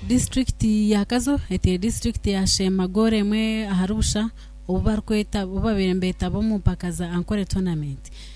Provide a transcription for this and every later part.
Disiturikiti ya Kazo eteire disiturikiti ya Sheema goolo emwe ahari busha obu barikweta obu baabaire nibeetaba omu mpaka za Ankole Tournament.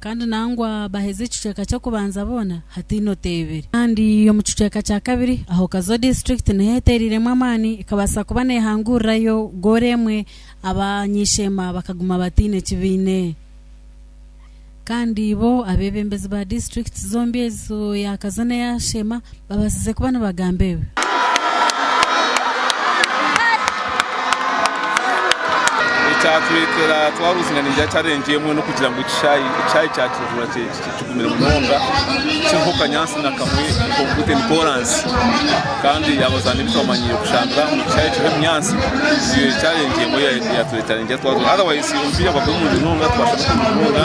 Kandi nangwa baheza ekicweka ky'okubanza boona hataine oteebire. Kandi omu kicweka kya kabiri, aho Kazo disiturikiti niho eteereiremu amaani, ekabaasa kuba neehangurirayo goolo emwe, Abanyisheema bakaguma bataine ki baine. Kandi bo abeebembezi ba disiturikiti zombi ezo, eya Kazo n'eya Sheema, Babaasize kuba nibagamba ebi. Ekyatureetera twabuziina neija challenge emwe n'okugira ngu ekishaayi ekishaayi kya Kijuura kigumire munonga kiriho kanyaatsi na kamwe nk'obuguteeni koraansi kandi abazaani beitu bamanyiire kushambira omu kishaayi kiriho ebinyaatsi niyo challenge emwe eyatureetera neija twazire otherwise omupiira gwabaire murungi munonga twashambire kurungi munonga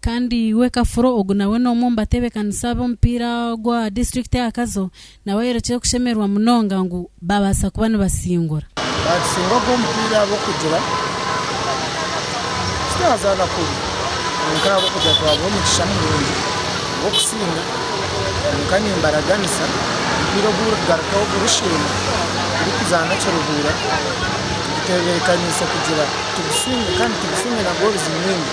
Kandi iwe kafuro ogu nawe n'omwe omu batebekanisa ab'omupiira gwa disiturikiti aha Kazo nawe ayorekire kushemererwa munonga ngu baabaasa kuba nibasingura. Naatusingura ogwo mupiira ahabw'okugira titwazaana kubi kwonka ahabw'okugira twabaha omugisha murungi gw'okusinda kwonka nimbaraganisa omupiira ogu burikugarukaho burusheeme turikuzaana Kiruhura tugutebeekaniise kugira tugusinge kandi tugusinge nagwo oruziimindi.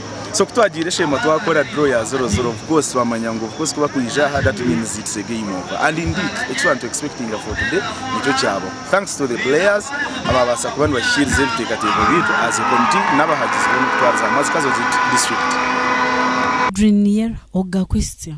so kutwagiire esheema twakora draw ya zero zero of course twamanya ngu of course kuba kwija aha that means it's a game over and indeed eki twari nitwexpectinga for today nikyo kyabaho thanks to the players ababaasa kuba nibashikiiriza ebiteekateeko byaitu as a committee n'abahagizi boona okutwariza hamwe as Kazozi district. Adrien Niyera, Oga Christian.